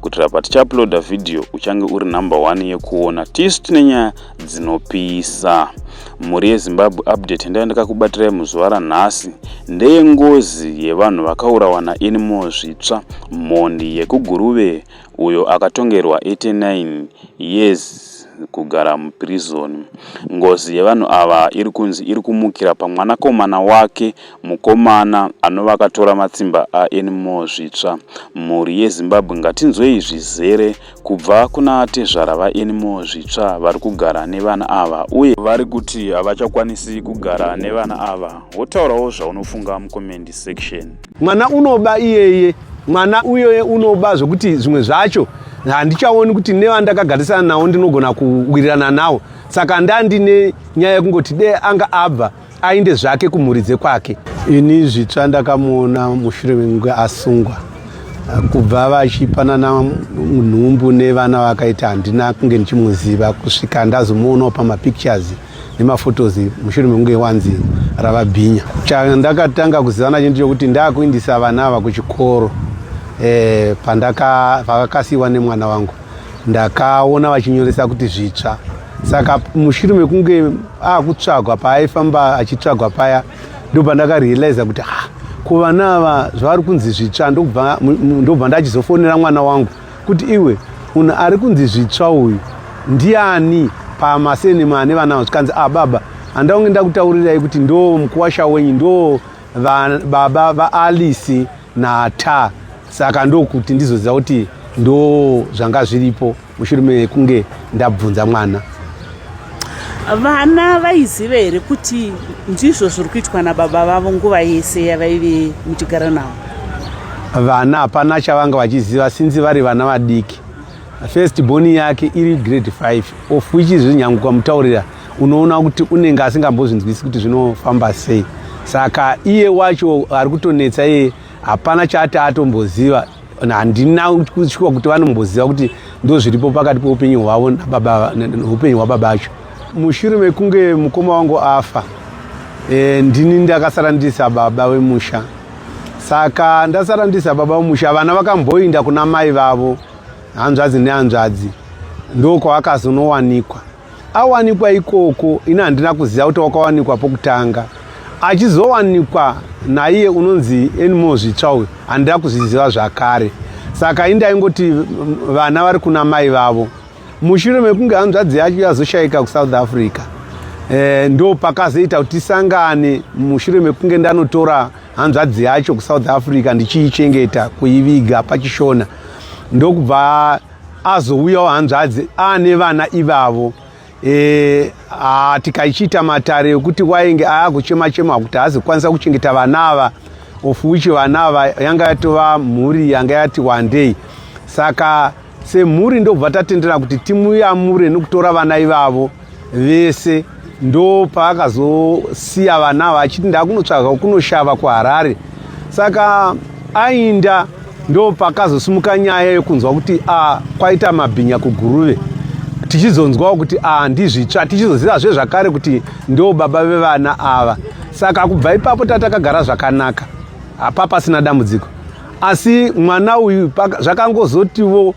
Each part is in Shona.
kuitira patichauploada vhidhiyo uchange uri number one yekuona tisu tine nyaya dzinopisa mhuri yezimbabwe update ndaiva ndakakubatirai muzuva ranhasi ndeyengozi yevanhu vakaurawa nainimo zvitsva mhondi yekuguruve uyo akatongerwa 89 years kugara muprison ngozi yevanhu ava iri kunzi iri kumukira pamwanakomana wake Mukomana anova akatora matsimba a Anymore Zvitsva. Mhuri yeZimbabwe ngatinzwei zvizere kubva kuna tezvara va Anymore Zvitsva vari kugara nevana ava uye vari kuti havachakwanisi kugara nevana ava. Wotaurawo zvaunofunga mucomment section. Mwana unoba iyeye. Mwana uyoye unoba zvekuti zvimwe zvacho handichaoni kuti nevandakagarisana nawo ndinogona kuwirirana nawo saka ndandine nyaya yekungoti dee anga abva ainde zvake kumhuri dzekwake. Ini zvitsva ndakamuona mushure mekunge asungwa kubva vachipanana nhumbu nevana vakaita handina kunge ndichimuziva kusvika ndazomuonawo pamapictures nemaphotos mushure mekunge wanzi rava bhinya chandakatanga kuziva nacho ndichokuti ndakuindisa vana ava kuchikoro eh, pandakasiiwa nemwana wangu ndakaona vachinyoresa kuti zvitsva saka mushure mekunge akutsvagwa paaifamba achitsvagwa paya ndobva ndakarealiza kuti ha kuvana ava zvavari kunzi zvitsva ndobva ndachizofonera mwana wangu kuti iwe munhu ari kunzi zvitsva uyu ndiani pamasenema ane vana avo zvikanzi a ah, baba handaunge ndakutaurirai kuti ndo mukuwasha wenyu ndo baba vaalice nata saka ndokuti ndizoziva kuti ndo zvanga zviripo mushure mekunge ndabvunza mwana vana vaiziva here kuti ndizvo zviri kuitwa nababa vavo nguva yese yavaive muchigara navo vana hapana chavanga vachiziva sinzi vari vana vadiki first boni yake iri grade 5 of which zvinyanguka mutaurira unoona kuti unenge asingambozvinzwisi kuti zvinofamba sei saka iye wacho ari kutonetsa iye hapana chaati atomboziva handina kushuwa kuti vanomboziva kuti ndo zviripo pakati peupenyu hwavo neupenyu hwababa acho mushure mekunge mukoma wangu afa e, ndini ndakasara ndiri sababa wemusha saka ndasara ndiri sababa wemusha vana vakamboinda kuna mai vavo hanzvadzi nehanzvadzi ndokwavakazonowanikwa awanikwa ikoko ini handina kuziva kuti wakawanikwa pokutanga achizowanikwa naiye unonzi enimo zvitsva uyu handina kuzviziva zvakare saka indi aingoti vana vari kuna mai vavo mushure mekunge hanzvadzi yacho yazoshayika kuSouth Africa eh ndo pakazoita kuti sangane mushure mekunge ndanotora hanzvadzi yacho kuSouth Africa ndichiichengeta kuiviga pachishona ndokubva azouyawo hanzvadzi aane vana ivavo e, a, tikaichiita matare ekuti wainge aakuchema chema kuti haazi kukwanisa kuchengeta vana ava of which vana ava yanga yatova mhuri yanga yati wandei saka semhuri ndobva tatendera kuti timuyamure nekutora vana ivavo vese ndo paakazosiya vana ava achiti ndakunotsvaga kunoshava kuharare saka ainda ndo pakazosimuka nyaya yekunzwa kuti a kwaita mabhinya kuguruve tichizonzwawo kuti a ndizvitsva tichizoziva zve zvakare kuti ndo baba vevana ava saka kubva ipapo tatakagara zvakanaka hapa pasina dambudziko asi mwana uyu zvakangozotiwo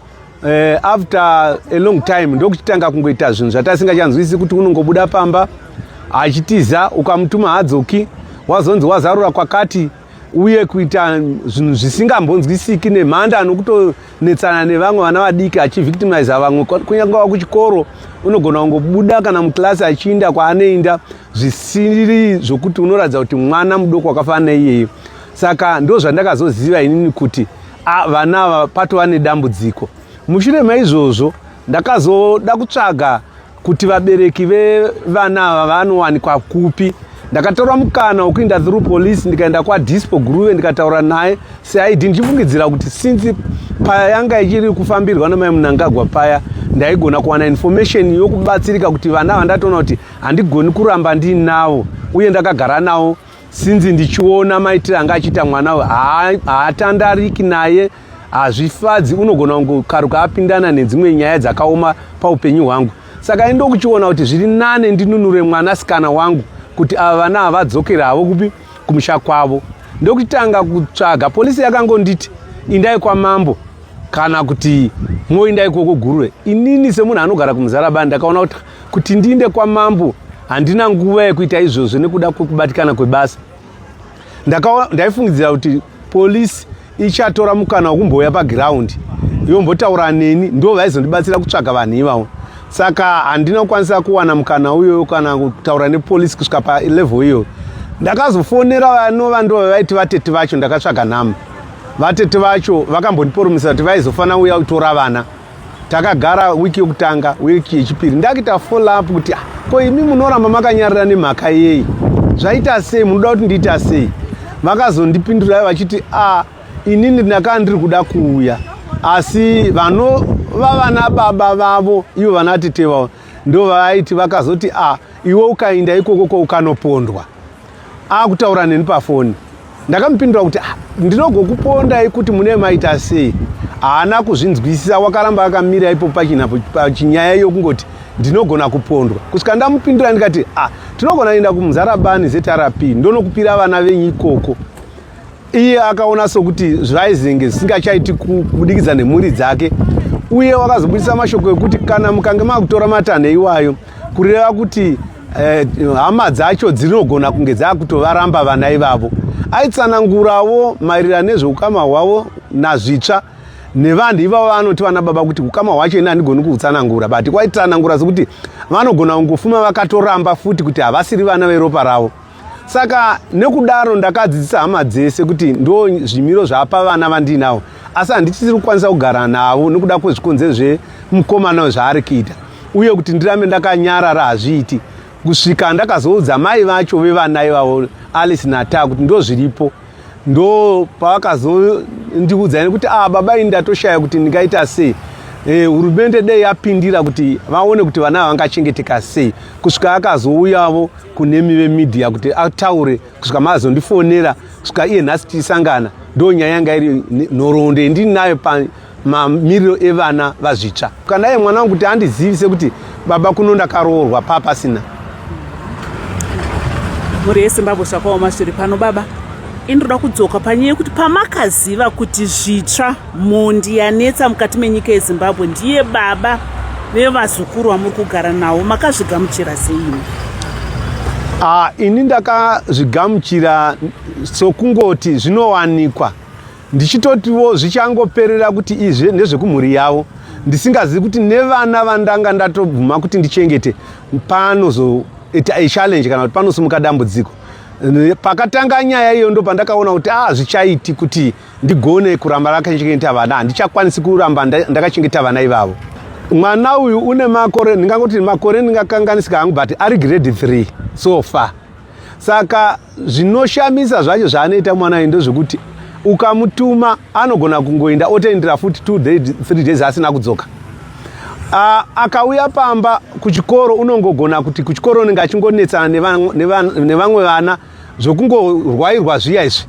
eh, after a long time ndokuchitanga kungoita zvinhu zvatasingachanzwisisi kuti unongobuda pamba achitiza ukamutuma hadzoki wazonzi wazarura kwakati uye kuita zvinhu zvisingambonzwisiki nemhanda anokutonetsana nevamwe vana vadiki achivictimiza vamwe kunyange wa kuchikoro unogona kungobuda kana mukilasi achiinda kwaanoinda zvisiri zvokuti unoratidza kuti mwana mudoko wakafanana iyeyo saka ndo zvandakazoziva inini kuti Ah, vana ava patova nedambudziko. Mushure maizvozvo ndakazoda kutsvaga kuti vabereki vevana ava vanowanikwa kupi ndakatora mukana wekuinda through police ndikaenda kwadispo guruve ndikataura naye seid ndichifungidzira kuti since paya yanga ichiri kufambirwa namai munangagwa paya ndaigona kuwana information yokubatsirika kuti vana vandatoona kuti handigoni kuramba ndiinavo uye ndakagara navo sinzi ndichiona maitire anga achiita mwana uyu haatandariki naye hazvifadzi unogona kungokaruka apindana nedzimwe nyaya dzakaoma paupenyu hwangu saka indokuchiona kuti zviri nane ndinunure mwana sikana wangu kuti ava vana havadzokera havo kupi kumusha kwavo ndokutanga kutsvaga polisi yakangonditi indai kwamambo kana kuti moindai kwokugurwe inini semunhu anogara kumuzarabani ndakaona kuti Kuti ndiinde kwamambo handina nguva yekuita izvozvo nekuda kwekubatikana kwebasa. Ndaifungidzira kuti polisi ichatora mukana wekumbouya pagiraundi yombotaura neni ndo vaizondibatsira kutsvaga vanhu ivavo saka handina kukwanisa kuwana mukana uyoyo kana kutaura nepolisi kusvika palevel iyoyo ndakazofonera vanova ndo vaiti vatete vacho ndakatsvaga nhama vatete vacho vakambondiporomisa kuti vaizofanira uya kutora vana takagara wiki yokutanga wiki yechipiri ndakuita follow up kuti ah, ko imi munoramba makanyarira nemhaka yei zvaita sei munoda kuti ndiita sei vakazondipindura vachiti a ah, inini ndakaa ndiri kuda kuuya asi vanova vana baba vavo ivo vana tete vavo ndo vaaiti vakazoti a ah, iwe ukainda ikoko ko ukanopondwa akutaura neni pafoni ndakamupindura kuti ah, ndinogokupondai kuti mune maita sei haana kuzvinzwisisa wakaramba akamira ipo pachinyaya yokungoti ndinogona kupondwa kusvika ndamupindura ndikati a ah, tinogona kuenda kumuzarabani zrp ndonokupira vana venyu ikoko iye akaona sokuti zvaizenge zvisingachaiti kubudikidza nemhuri dzake uye wakazobudisa mashoko ekuti kana mukange makutora matanho iwayo kureva kuti eh, hama dzacho dzinogona kunge dzakutovaramba vana ivavo aitsanangurawo maererano nezveukama hwavo nazvitsva nevanhu ivavo vanoti vana baba kuti ukama hwacho ini handigoni kuutsanangura but kwaitsanangura sokuti vanogona kungofuma vakatoramba futi kuti havasiri vana veropa ravo saka nekudaro ndakadzidzisa hama dzese kuti ndo zvimiro zvapa vana vandiinavo asi handichisiri kukwanisa kugara navo nokuda kwezvikonzero zvemukomana zvaari kuita uye kuti ndirambe ndakanyarara hazviiti kusvika ndakazoudza mai vacho vevana ivavo alice nataa kuti ndo zviripo ndo paakazondiudza nekuti a ah, baba ini ndatoshaya kuti ndingaita sei eh, hurumende e, dei yapindira kuti vaone kuti vana vangachengeteka sei kusvika akazouyavo kunemi vemidhiya kuti ataure kusvika maazondifonera kusvika iye nhasi tichisangana ndo nyaya yanga iri nhoroondo yendinayo mamiriro evana vazvitsva kana ye mwana wangu kuti andizivise kuti baba kuno ndakaroorwa paa pasina mhuri yesimbabwe zvakaoma zviri pano baba inoda kudzoka panyaya yekuti pamakaziva kuti zvitsva mhondi yanetsa mukati menyika yezimbabwe ndiye baba vevazukuru vamuri kugara nawo makazvigamuchira seini ah, ini ndakazvigamuchira sokungoti zvinowanikwa ndichitotiwo zvichangoperera kuti izvi ndezvekumhuri yavo ndisingazivi kuti nevana vandanga ndatobvuma kuti ndichengete panozoita echallenge kana kuti panosimuka dambudziko pakatanga nyaya iyo ndo pandakaona kuti a ah, zvichaiti kuti ndigone kuramba rakachengeta vana handichakwanisi kuramba ndakachengeta vana ivavo mwana uyu une makore ndingangoti makore ndingakanganisika hangu but ari grade 3 so far saka zvinoshamisa zvacho zvaanoita mwana ayi ndozvekuti ukamutuma anogona kungoinda otoendera futi two day, three days asina kudzoka uh, akauya pamba kuchikoro unongogona kuti kuchikoro unenge achingonetsana nevamwe vana zvokungorwairwa zviya izvi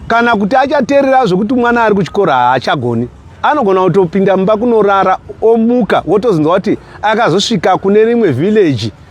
kana kuti achaterera zvekuti mwana ari kuchikoro haachagoni anogona kutopinda mumba kunorara omuka wotozonzwa kuti akazosvika kune rimwe vhileji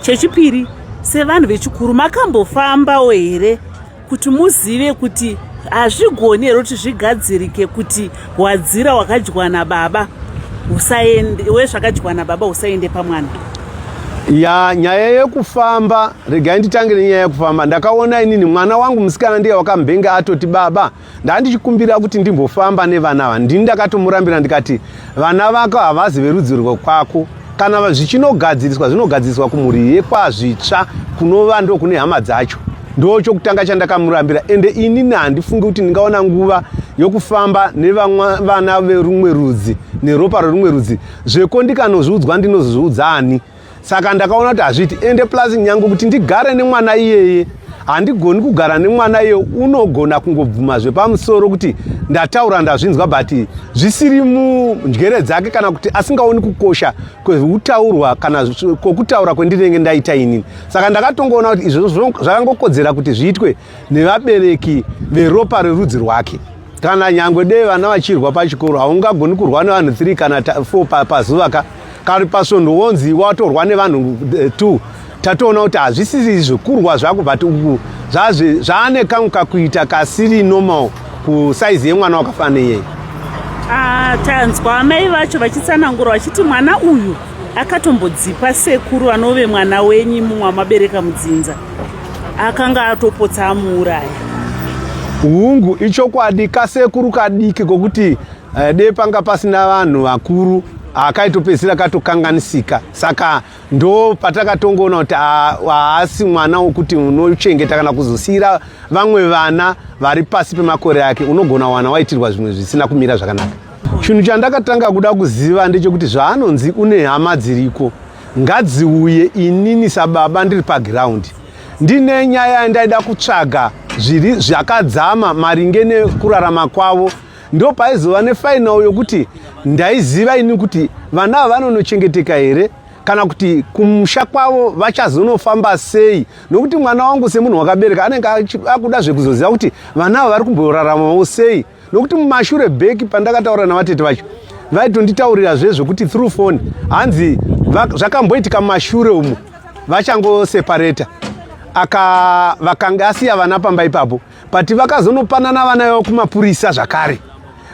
chechipiri sevanhu vechikuru makambofambawo here kuti muzive kuti hazvigoni here kuti zvigadzirike kuti hwadzira hwakadyiwa nababa usaende wezvakadyiwa nababa usaende pamwana ya nyaya yekufamba regai nditange nenyaya yekufamba ndakaona inini mwana wangu musikana ndiye wakambenga atoti baba ndandichikumbira kuti ndimbofamba nevana ava ndini ndakatomurambira ndikati vana vako havazi verudzi rwekwako kana zvichinogadziriswa zvinogadziriswa kumhuri yekwazvitsva kunova ndo kune hama dzacho ndo chokutanga chandakamurambira ende inini handifungi kuti ndingaona nguva yokufamba nevana verumwe rudzi neropa rerumwe rudzi zveko ndikanozviudzwa ndinozozviudza ani saka ndakaona kuti hazviiti ende plus nyange kuti ndigare nemwana iyeye handigoni kugara nemwana iye unogona kungobvuma zvepamusoro kuti ndataura ndazvinzwa but zvisiri munjere dzake kana kuti asingaoni kukosha kweutaurwa kana kwokutaura kwendinenge ndaita inini saka ndakatongoona kuti izvozvo zvakangokodzera kuti zviitwe nevabereki veropa rerudzi rwake kana nyangwe dei vana vachirwa pachikoro haungagoni kurwa nevanhu 3 kana 4 pazuva ka kari pasvondo wonzi watorwa nevanhu eh, two tatoona kuti hazvisiri zvekurwa zvako but uku zvaane kamwe kakuita kasiri normal kusaizi yemwana wakafana iyeye ah, tanzwa amai vacho vachitsanangura vachiti mwana uyu akatombodzipa sekuru anove mwana wenyu mumwe amabereka mudzinza akanga atopotsa amuuraya hungu ichokwadi kasekuru kadiki kokuti Eh, dei panga pasina vanhu vakuru akaitopedzisira katokanganisika saka ndo patakatongoona kuti ah, haasi mwana wokuti unochengeta kana kuzosiyira vamwe vana vari pasi pemakore ake unogona wana waitirwa zvimwe zvisina kumira zvakanaka chinhu chandakatanga kuda kuziva ndechekuti zvaanonzi une hama dziriko ngadziuye inini sababa ndiri pagiraundi ndine nyaya yandaida kutsvaga zviri zvakadzama maringe nekurarama kwavo ndo paizova nefinal yokuti ndaiziva ini kuti vana ava vanonochengeteka here kana kuti kumusha kwavo vachazonofamba sei nokuti mwana wangu semunhu wakabereka anenge akuda zvekuzoziva kuti vana ava vari kumboraramawo sei nokuti mumashure beki pandakataura navatete vacho vaitonditaurira zve zvekuti through phone hanzi zvakamboitika mumashure umu vachangosepareta aka vakanga asiya vana pamba ipapo but vakazonopanana vana vavo kumapurisa zvakare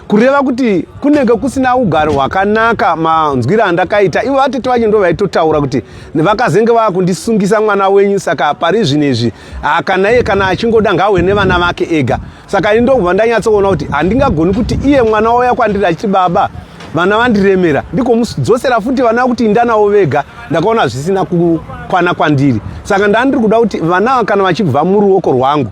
kureva kuti kunenge kusina ugaro hwakanaka manzwira andakaita ivo vatete vacho ndo vaitotaura kuti vakazenge vava kundisungisa mwana wenyu saka pari zvino izvi ah, kana iye kana achingoda ngawe nevana vake ega saka ini ndokubva ndanyatsoona kuti handingagoni kuti iye mwana wauya kwandiri achiti baba vana vandiremera ndikomudzosera futi vana kuti indanavo vega ndakaona zvisina kukwana kwandiri saka ndandiri kuda kuti vana kana vachibva muruoko rwangu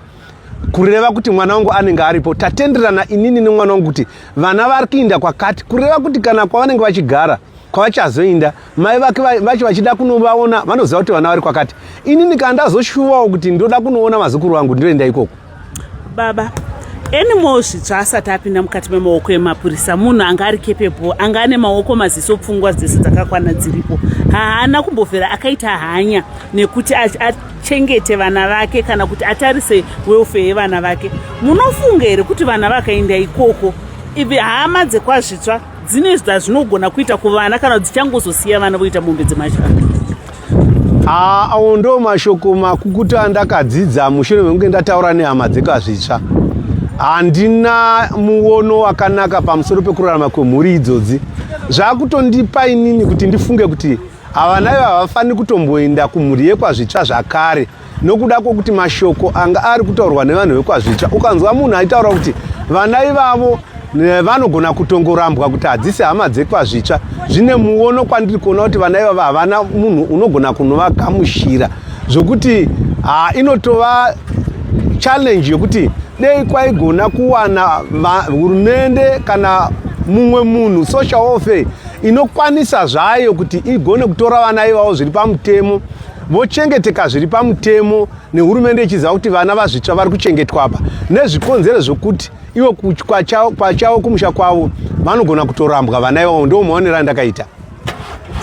kureva kuti mwana wangu anenge aripo tatenderana inini nemwana wangu kuti vana vari kuinda kwakati kureva kuti kana kwavanenge vachigara kwavachazoinda mai vake vacho vachida kunovaona vanoziva kuti vana vari kwakati inini kana ndazoshuvawo kuti ndoda kunoona mazukuru vangu ndoenda ikoko baba anymore zvitsva asati apinda mukati memaoko emapurisa munhu anga ari kepepo anga ane maoko maziso pfungwa dzese dzakakwana dziripo haana kumbovera akaita hanya nekuti achengete vana vake kana kuti atarise welfare yevana vake munofunga here kuti vana vakaenda ikoko ivi hama dzekwazvitsva dzine zvazvinogona kuita kuvana kana dzichangozosiya vana voita mombe dzemashaka Ah, awo ndo mashoko makukutu andakadzidza mushure mekunge ndataura nehama dzeka zvitsva handina muono wakanaka pamusoro pekurarama kwemhuri idzodzi zvakutondipa inini kuti ndifunge kuti havana ivo havafaniri kutomboenda kumhuri yekwazvitsva zvakare nokuda kwokuti mashoko anga ari kutaurwa nevanhu vekwazvitsva ukanzwa munhu aitaura kuti vana ivavo vanogona kutongorambwa kuti hadzisi hama dzekwazvitsva zvine muono kwandiri kuona kuti vana ivavo havana munhu unogona kunovagamushira zvokuti ha inotova challenge yokuti dei kwaigona kuwana hurumende kana mumwe munhu social welfare inokwanisa zvayo kuti igone kutora vana ivavo zviri pamutemo vochengeteka zviri pamutemo nehurumende ichiziva kuti vana vazvitsva vari kuchengetwa apa nezvikonzero zvokuti ivo kwachavo kumusha kwavo vanogona kutorambwa vana ivavo ndo maonero andakaita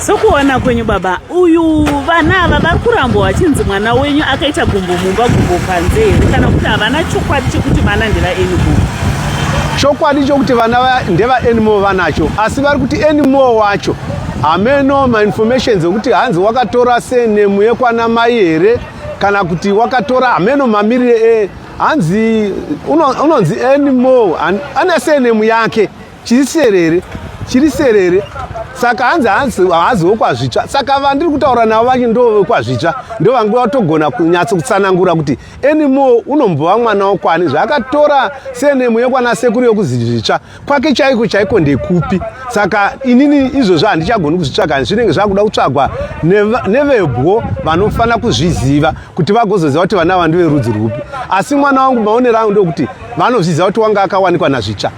sokuona kwenyu baba uyu vana ava vari kurambwa vachinzi mwana wenyu akaita gumbo mumba gumbo panze here kana kuti havana chokwadi chekuti vana ndevaenimo chokwadi chokuti vana ndevaenimo vanacho asi vari kuti enimo wacho hameno mainformations ekuti hanzi wakatora senemu yekwana mai here kana kuti wakatora hameno mamirire e hanzi unonzi uno anymore ane senemu yake chiri serere chiri serere saka hanzi hanzi haazi wekwazvitsva saka vandiri kutaura navo vachi ndo vekwazvitsva ndo vange vatogona kunyatso kutsanangura kuti anymore unombova mwana wokwani zvaakatora senemu yekwana sekuru yekuzizvitsva kwake chaiko chaiko ndekupi saka inini izvozvo handichagoni kuzvitsvaga hanzi zvinenge zvakuda kutsvagwa nevebwo vanofanira kuzviziva kuti vagozoziva kuti vana ava ndiverudzi rwupi asi mwana wangu maonero angu ndokuti vanozviziva kuti wanga akawanikwa nazvitsva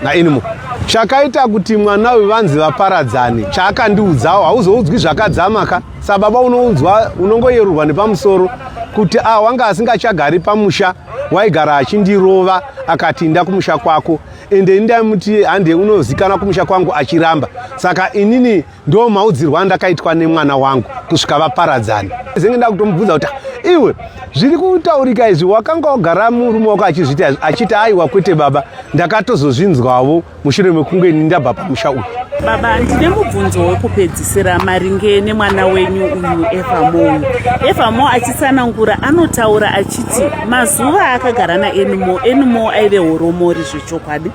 nainimo chakaita kuti mwana uyu vanzi vaparadzane chaakandiudzawo hauzoudzwi zvakadzama ka sababa unoudzwa unongoyerurwa nepamusoro kuti a ah, wanga asingachagari pamusha waigara achindirova akati inda kumusha kwako ende ndamuti hande unozikana kumusha kwangu achiramba saka inini ndo maudzirwa andakaitwa nemwana wangu kusvika vaparadzana zenge ndakutomubvunza kuti iwe zviri kutaurika izvi wakanga wagara murume wako achizviita achiti aiwa kwete baba ndakatozozvinzwavo mushure mekunge ndabva pamusha uyu baba ndine mubvunzo wekupedzisira maringe nemwana wenyu uyu evamo evamo achitsanangura anotaura achiti mazuva aakagara naenmo enmo aive horomori zvechokwadi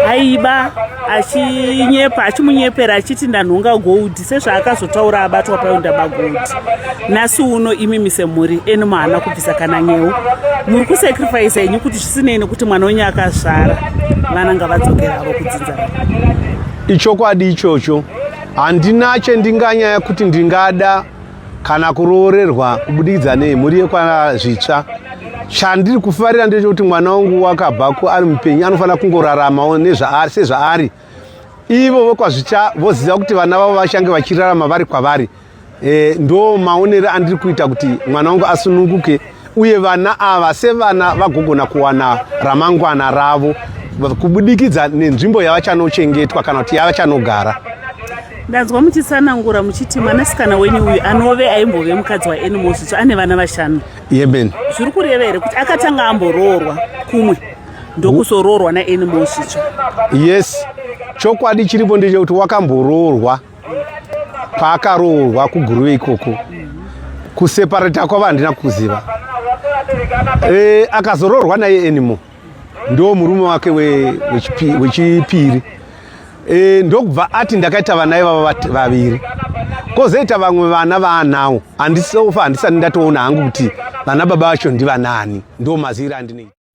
aiba achinyepa achimunyepera achiti ndanhonga gold sezvaakazotaura abatwa paenda bagoti nhasi uno imi mise mhuri eni mahana kubvisa kana nyewo muri kusacrifisa henyu kuti zvisinei nekuti mwana wenyu akazvara vana ngavadzokera avo kudzinza ichokwadi ichocho handina chendinganyaya kuti ndingada kana kuroorerwa kubudikidza nei mhuri yekwana zvitsva chandiri kufarira ndechekuti mwana wangu wakabva kuari mupenyu anofanira kungoraramawo sezvaari ivo vokwazvicha voziva kuti vana vavo vachange vachirarama vari kwavari e, ndo maonero andiri kuita kuti mwana wangu asununguke uye vana ava sevana vagogona kuwana ramangwana ravo kubudikidza nenzvimbo yavachanochengetwa kana kuti yavachanogara ndanzwa muchisanangura muchiti mwanasikana wenyu uyu anove aimbove mukadzi waanimosvitsva ane vana vashanu yemen zviri kureva here kuti akatanga amboroorwa kumwe ndokuzoroorwa naanimals icho yes chokwadi chiripo ndechekuti wakamboroorwa kwaakaroorwa kuguruve ikoko kuseparata kwava handina kuziva e, akazoroorwa naye animo ndo murume wake wechipiri e, ndokubva ati ndakaita vana ivava vaviri kozoita vamwe vana vaanawo handisofa handisati ndatoona hangu kuti vana baba vacho ndivanaani ndo maziviro andinoita